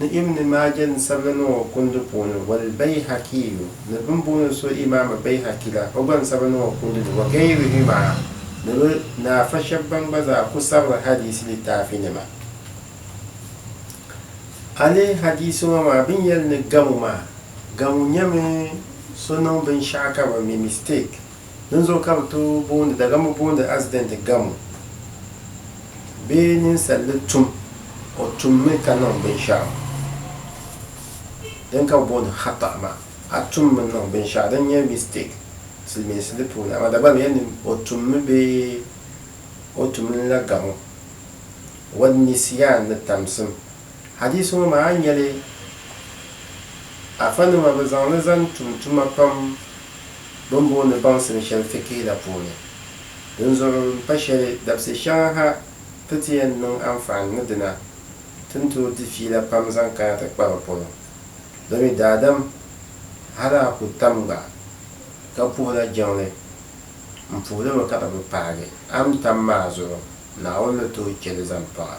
ni Ibn Maaja ni sabila niŋ o kundi puuni, wal Bayhakiyu ni bini booni so Imaama Bayhaki la, o gba ni sabila niŋ o kundi ni, wa gayrihimaa ni bɛ ni afa shɛba ban gba zaa ku sabiri hadiisi litaafinima. A lihi hadiisi ŋɔ maa bɛ ni yɛli ni gamu maa, gamu nyɛmi so niŋ binshɛɣu ka bɛ mi, mistake, Dinzuɣu ka bɛ tooi booni Dagambu booni asidɛnti gamo bee ninsal ni tum o tummi ka niŋ binshɛɣu din ka bɛ booni khata maa. A tummi n-niŋ binshɛɣu din nyɛ mistake Silimiinsi di puuni, amaa Dagbani yɛli ni o tummi bee o tumli la gamo, wan-nisyan ni tamsim. Hadiisi ŋɔ maa a ni nya li, Afanima bɛ zaŋ li zaŋ tum tuma pam. bɛ ni booni baŋsim shɛli fikihi la puuni. Dinzuɣu m-pa shɛli, dabisi shɛŋa ha ti ti yɛn niŋ anfaani ni dina, ti ni tooi di fiila pam zaŋ kana ti kpa bɛ polo. Bɛ mi daadam, hali a ku tam gba, ka puhila jiŋli, m puhi li mi ka bɛ bi paagi. A ni tam maa zuɣu, Naawuni ni tooi chɛ li zaŋ paŋ a.